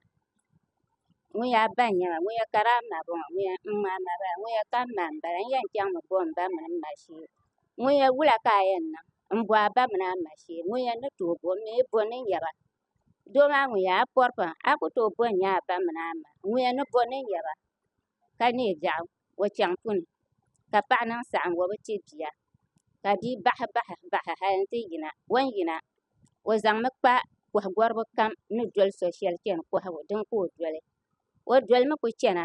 ŋun yɛli a ba n nyɛ ma ŋun yɛli ka di a ma bɔŋɔ ŋun yɛli n-ŋ a ma bala ŋun yɛli ka m ma m bala n yɛn chaŋ mi bɔhi m ba mini m ma shee ŋun yɛli wula ka a yɛn niŋ m bɔhi a ba mini a ma shee ŋun yɛli ni tooi bo m mi bo ni n yɛba doo maa ŋun yɛli a pɔri pam a ku tooi bo n-nyɛ a ba mini a ma ŋun yɛli ni bo ni n yɛba ka neei biɛɣu o chɛŋ puni ka paɣa niŋ saɣangi o bi chɛ bia ka bia bahi bahi bahi hali n ti yina o ni yina o zaŋmi kpa koha goribi kam ni doli so shɛli chɛni kohagu dini ka o doli o dolimi ku chɛna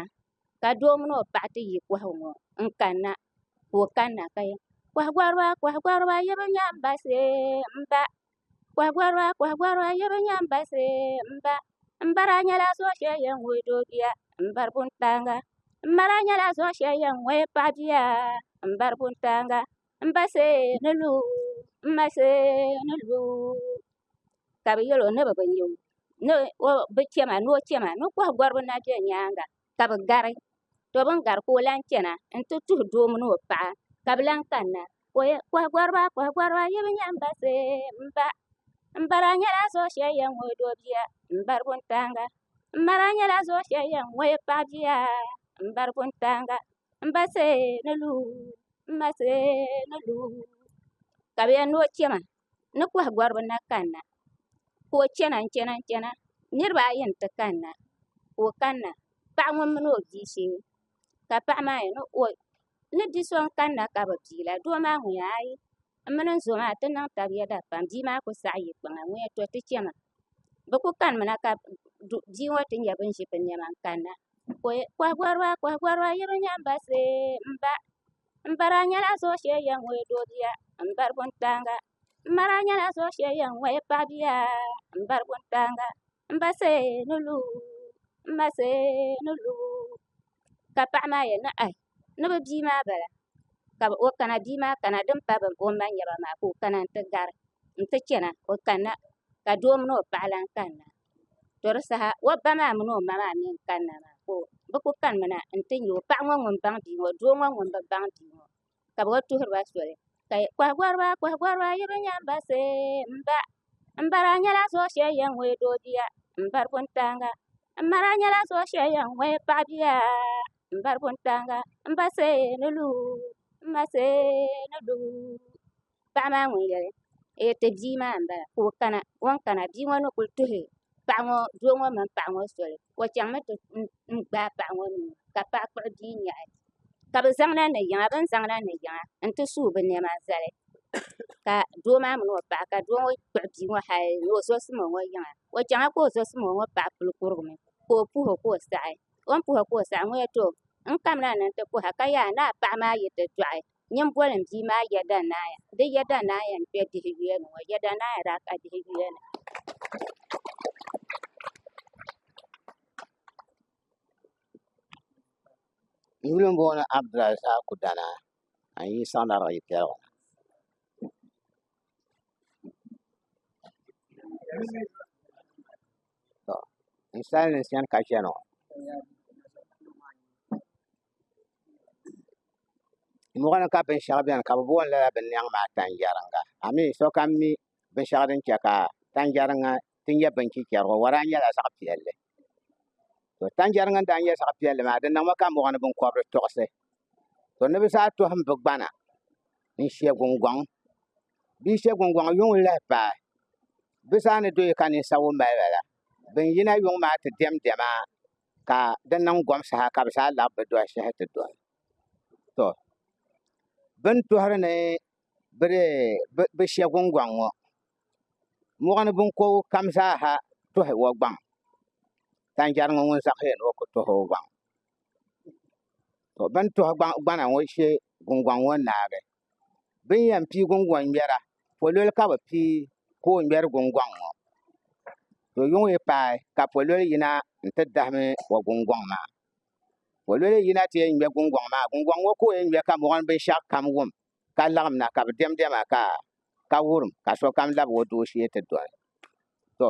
ka doo mini o paɣa ti yi kohagu ŋo n kanna ka o kanna ka yɛli koha goriba koha goriba yi bi nya n ba shee n ba Kɔhigɔriba kɔhigɔriba yuri n-nyɛ ban bari sariaya m-ba m-bariba nyɛla zuɣu shɛli yɛn wuhi doo bia m-bari buntaaŋa m-bariba nyɛla zuɣu shɛli yɛn wuhi paɣ bia m-bari buntaaŋa m ba shee ni lu m ma shee ni lu ka bɛ yɛl o ni bi bi nya o ni o bi chɛ ma ni o chɛ ma ni kɔhigɔriba na be nyaaŋa ka bi gari to bin gari ka o lahi chɛna n ti tuhi doo mini o paɣa ka bi lahi kanna koha goriba koha goriba yi bi nyɛ n ba see n ba n bara nyɛla zuɣu shɛli yɛn ŋɔ doo bia n bari wuntaŋa n bara nyɛla zuɣu shɛli yɛn ŋɔ paɣa bia n bari wuntaŋa n ba see ni luu n ma see ni luu ka bi yɛn ni o chɛma ni koha goribi na kanna ka o chɛna n chɛna n chɛna niraba ayi n ti kanna ka o kanna paɣa ŋun mini o bia shee ka paɣa maa yɛli ni bia so n kanna ka bi piila doo maa ŋun yɛli aayi n mini n zo maa ti niŋ tabi yɛda pam bia maa ku saɣi yiɣi kpaŋa n yɛli to ti chɛna bi ku kanimi na ka bia ŋo ti nyɛ bin ʒi bi niɛma n kanna koha goriba koha goriba yi bi nyɛ n ba see n ba M bara nyɛla zuɣu shee yɛn ŋɔya doo bia m bari wuntaŋa m bara nyɛla zuɣu shee yɛn ŋɔya paɣa bia m bari wuntaŋa m ba shee ni lu m ma shee ni lu ka paɣa maa yɛn niŋ ayi ni bɛ bia maa bala ka o kana bia maa kana din pa o ma nyaba maa ka o kana n ti gari n ti chana o kanna ka doo mini o paɣa lahi kanna. To di saha o ba maa mini o ma maa mii n kanna maa ka bi ku kanimi na n ti nyɛ paɣa ŋo ŋun baŋ bia ŋo doo ŋo ŋun bi baŋ bia ŋo ka bi lee tuhuriba soli koha goriba koha goriba yi bi nya n ba see n ba n bara nyɛla zuɣu shɛli yɛn ŋmɛ doo bia n bari wuntaŋa n bara nyɛla zuɣu shɛli yɛn ŋmɛ paɣa bia n bari wuntaŋa n ba see ni lu n ma see ni lu paɣa maa ŋun yɛli o yɛli ti bia maa n bala ka o kana o ni kana bia ŋo ni kuli tuhi doo ŋo mini paɣa ŋo soli o chɛŋmi ti gbaai paɣa ŋo nuu ka paɣa kpuɣu bia nyaɣi ka bi zaŋ la ni yiŋa bi ni zaŋ la ni yiŋa n ti su bi niɛma zali ka doo maa mini o paɣa ka doo ŋo kpuɣu bia ŋo hali ni o zosimi o ŋo yiŋa o chɛŋla ka o zosimi o ŋo paɣa puli kurigimi ka o puho ka o saɣi o ni puho ka o saɣi ŋo yɛli too n kamla ni n ti kuha ka yaha ni a paɣa maa yi ti doɣi Nyamboli m bia maa Yeda Naya di Yeda Naya n kpɛ dihi yuya ni ŋɔ Yeda Naya daa ka dihi yuya ni. Yuli m boŋɔ ni Abdulai saha ku dana ka n yi saɣi lariga yi piɛligu na n sali ni n chani ka chani ŋɔ. mɔɣuni ka binshɛɣu beni ka bɛ booni lala binyɛŋ maa tanjɛriŋa amin sokam mi binshɛɣu din che ka tanjɛriŋa ti nyɛ binchichɛrigu o lahi nyɛla zaɣ' piɛlli to tanjɛriŋa n-daa nyɛ zaɣ' piɛlli maa di niŋmi ka mɔɣuni biŋkɔbiri tiɣisi to ni bɛ zaa tɔhim bɛ gbana n-she guŋgɔŋ bɛ yi she guŋgɔŋ yuŋ n-lahi paai bɛ zaa ni do yi ka ninsawa mali ba la bɛ ni yina yuŋ maa ti diɛmdiɛma ka di niŋ gom saha ka bi zaa laɣam bi dɔhi shɛhi ti dɔhi to bi ni tuhuri ni bi shɛ gungɔŋ ŋɔ mɔɣuni binkɔbigu kam zaaha tuhi o gbaŋ tanjari ŋɔ ŋun zaɣi ni o ku tuhi o gbaŋ to bi ni tuhi gbana ŋɔ shɛ gungɔŋ ŋɔ naagi bɛ ni yɛn pii gungɔŋ ŋmɛra pololi ka bɛ pii ka o ŋmɛri gungɔŋ ŋɔ to yuŋ yi paai ka pololi yina n-ti dahimi o gungɔŋ maa pololi yina ti yɛn ŋmɛ gungɔŋ maa gungɔŋ ŋɔ ka o yɛn ŋmɛ ka mɔɣuni binshɛɣu kam wum ka laɣim na ka bɛ diɛmdiɛma ka wurim ka sokam lab o dooshee ti doli to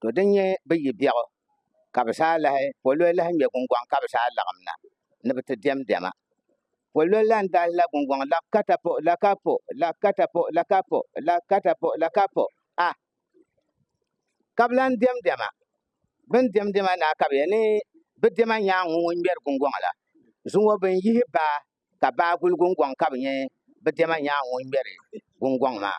to din nyɛ bi yi biɛɣu ka bi saa lahi pololi lahi ŋmɛ gungoŋ ka bi saa laɣam na ni bi ti diɛm diɛma pololi lan dahi la gungoŋ la katapo la kapo la katapo la kapo la katapo la kapo a ka bi lan diɛm diɛma bin diɛm diɛma na ka bi yɛ ni bi diɛma nyaangu ŋun ŋmɛri gungoŋ la zuŋɔ bin yihi baa ka baa guli gungoŋ ka bi nyɛ bi diɛma nyaangu ŋun ŋmɛri gungoŋ maa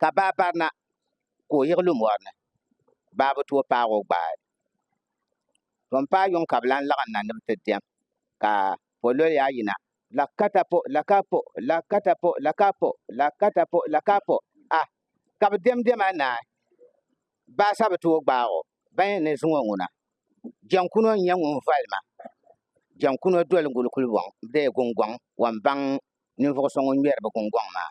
ka baa barina ka o yiɣi lu mɔri ni baa bi tooi paag o gbaai to m-paai yuŋ ka bɛ lan laɣim na ni bɛ ti diɛm ka pololi a yina la ka ta po la ka po la ka ta po la ka po la ka ta po la ka po ah ka bɛ diɛm diɛma naai baa sa bi tooi gbaag o ban yɛn ni zuŋɔ ŋuna jɛŋkuno n-nyɛ ŋun voli ma jɛŋkuno doli n-guli kulibɔŋ bee gungɔŋ wɔnbaŋ ninvuɣ so ŋun ŋmɛri bɛ gungɔŋ maa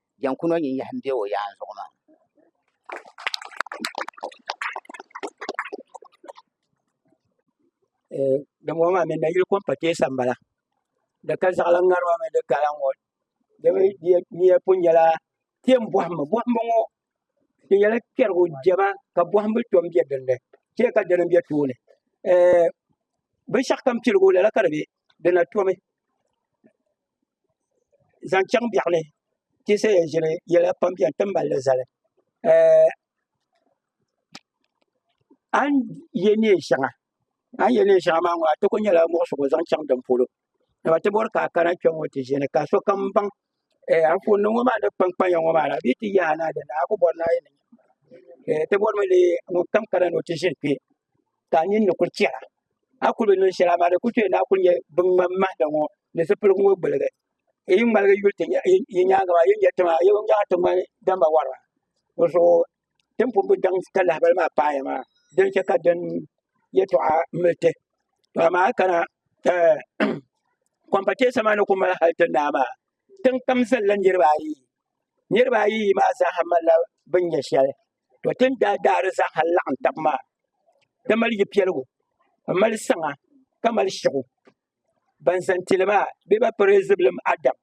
Jɛn ku nɔ nyin yahi m-be o yaan zuɣu maa. Dimbɔŋɔ maa mi nayili kom pateesa m-bala. Di ka zaɣilan ŋarima mini di kala ŋɔ di mi niya pun nyɛla kpɛm bɔhimbu. Bɔhimbu ŋɔ di nyɛla kpɛrigu jɛma ka bɔhimbu tom be din ni. Chɛ ka dini m-be tooni. Binshɛɣukam piligu lala ka di be. Di na tomi. zaŋ chaŋ biɛɣu ni ti yi sayi yɛn ʒiri yɛla pam biɛni ti ni malli zali a ni yɛ neen shɛŋa a ni yɛ neen shɛŋa maa ŋɔ a ti ku nyɛla muɣisigu zaŋ chaŋ din polo dama ti bori ka a kana kpɛŋŋo ti ʒini ka sokam baŋ Anfooni nim ŋɔ maa ni kpankpanya ŋɔ maa la bee ti yaai ni a dini a ku bori ni a yɛn niŋ ti bori mi lee ŋun kam kana ni o ti ʒini kpɛ ka a ninni kuli chɛra a ni kuli bi niŋ shɛli amaa di kuli chɛli ni a kuli nyɛ bin ŋmani mahanda ŋɔ ni zipiligu ŋɔ gbuligi n yi ŋmaligi yuli ti yi nyaangi maa a yuli nyɛ ti maa a yɛn nyaɣi ti ŋmani damba wariba dizuɣu ti ni pun bi daŋ ka lahabali maa paai maa din chɛ ka din yɛltɔɣa mili ti to amaa a yi kana kɔmpatɛsa maa ni ku mali hali ti naa maa tiŋkpam zalila niraba ayi niraba ayi yi maa zaaha malila bin nyɛ shɛli To ti ni daa daai di zaaha laɣim tab maa, di mali yi piɛligu, m mali saŋa ka mali shiɣu. Ban zani ti li maa bɛ ba piri Zibilim Adam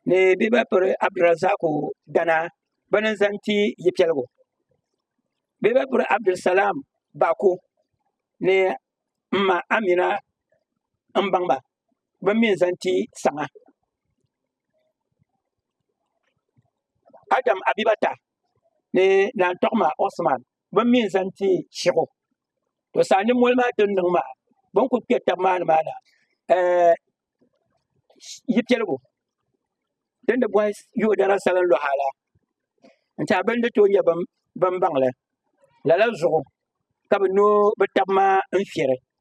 ni bɛ ba piri Abdurazzaqu Danaa bɛ ni zani ti yi piɛligu. Bɛ ba piri Abdulsalam Bako ni m ma Amina m baŋ ba. bin mi zaŋ ti saŋa adam abibata ni naan tɔɣima osman bin mi zaŋ ti shɛɣu to saa ni moli maa din niŋ maa bin kuli kpɛ tabi maa ni maa na yi piɛligu din di bɔhi yoo dana salin luɣa la n tiɛha bin di tooi nyɛ bin baŋli lala zuɣu ka bi noo bi tabi maa n fiɛri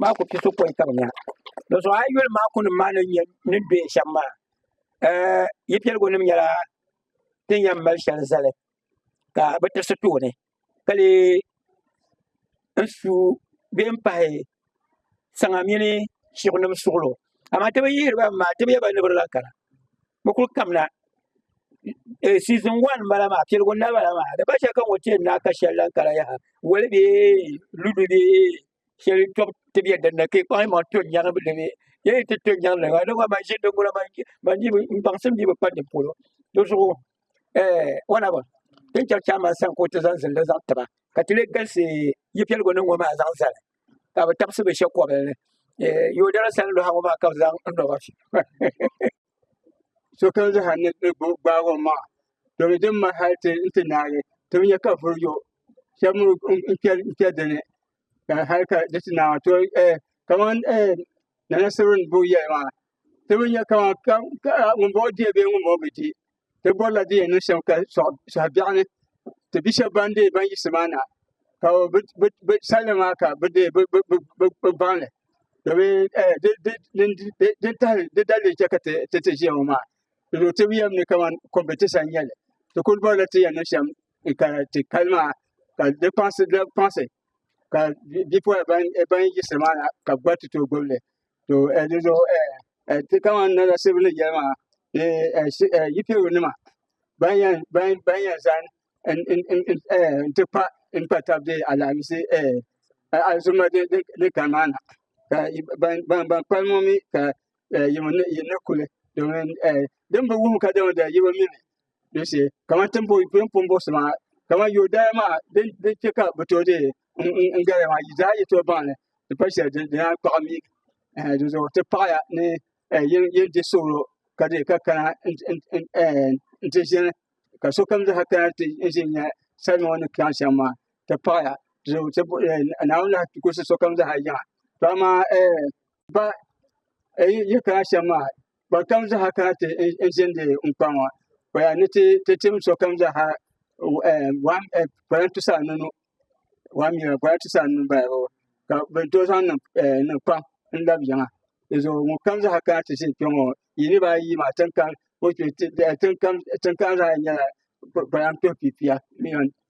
maa ku piso kɔŋ ka bi nya di zuɣu a yuli maa kunim maa ni bɛ shɛm maa yi piɛligu nim nyɛla ti ni yɛn mali shɛli zali ka bi tirisi tooni ka lee n su bee n pahi saŋa mini shiɣu nim suɣulo amaa ti bi yihiri ba maa ti bi yɛba ni bi di lahi kana bi kuli kamina siizin wan n bala maa piligu noli n bala maa di gba chɛli ka ŋɔ tiɛ naai ka shɛli lahi kara yaha woli bee ludu bee shɛli tɔbu ti bɛ dinni ka i kpaŋ yimaŋ to n nyɛri di ni yi ni ti to n nyɛri di maa di gba man ʒini di gula n baŋsim dii bi pa di polo di zuɣu whatever ti ni chɛri chairman sani ka o ti zaŋ ziliji zaŋ tiba ka ti lee galisi yi piligu ni ŋɔ maa zaŋ zali ka bi tabisi bɛ shɛba kɔbili ni Eh, yodara sani luha ŋɔ maa ka bi zaŋ n nɔba sokam zaha ni di gbo- gbaag o maŋa domin din ma hali ti n ti naagi ti bi nya ka vuri yo shɛba mi n- n kpɛ- n kpɛ dini ka hali ka di ti naai maa to eh, kaman eh, nana sibiri ni bo yɛli maa ti bi nya kama ka ŋunbɔŋɔ diɛ bee ŋunbɔŋɔ bi diɛ ti bɔrila di yɛn niŋ shɛm ka sɔɣ sɔɣ biɛɣu ni ti bi shɛba ban dee ban yiɣisi maa na ka bi bi bi sali maa ka bi dee bi bi bi bi bi gbaŋli domin ɛɛ di di di di di tahi di dalili n chɛ ka ti ti ti ʒiya ŋɔ maa doo ti bi yɛm ni kaman kɔmpitisa n nyɛli ti kuli bɔrila ti yɛn niŋ shɛm ka ti kali maa ka di kpaŋsi di kpaŋsi ka bipuɣin ban ban yiɣisi maa na ka bi gba ti tooi gbubi li. to eh, di zuɣu eh, eh, ti kaman nala sibu ni yɛli maa ni eh, si- eh, yipiro nima ban yɛn ban ban yɛn zan n n n n eh, n ti pa n pa tab de alaamisi eh, eh, alizuma din din- din kani maa na ka yi- ban ban ban kpalim ŋɔ mi ka eh, yi mi ni yi ni kuli domin eh, din bi wuhi ka dama da yi bi mi ni din shee kamani ti ni boi bɛ ni pun bɔri so maa kamani yɔɔdaya maa din din chɛ ka bi tooi deei n n n gariya maa yi zaa yi tooi baŋli di pali shɛli di di naan kpaɣi mi ɛɛ di zuɣu ti paɣiya ni ɛɛ yin yin di suɣuro ka deei ka kana n n n ɛɛ n ti ʒini ka sokam zaa kana ti n ʒini nya salima ŋɔ ni kpɛɣu shɛm maa ti paɣiya di zuɣu ti bo ɛɛ Naawuni lahi gulisi sokam zaa yiŋa to amaa ɛɛ ba ɛɛ yi yi kana shɛm maa kpa kam zaɣa kana ti n zindi n kpa ŋɔ kpa ya ni ti ti tim so kam zaɣa wan ɛ kpala ti sa nunu wan mi kpala ti sa nunu bala bɔ ka bi to zaŋ niŋ ɛ niŋ kpam n labi yiŋa di zuɣu ŋun kam zaɣa kana ti zini kpe ŋɔ yi ni baa yi maa tin kam zaɣa yini nyɛla kpalan tɔbu pipia.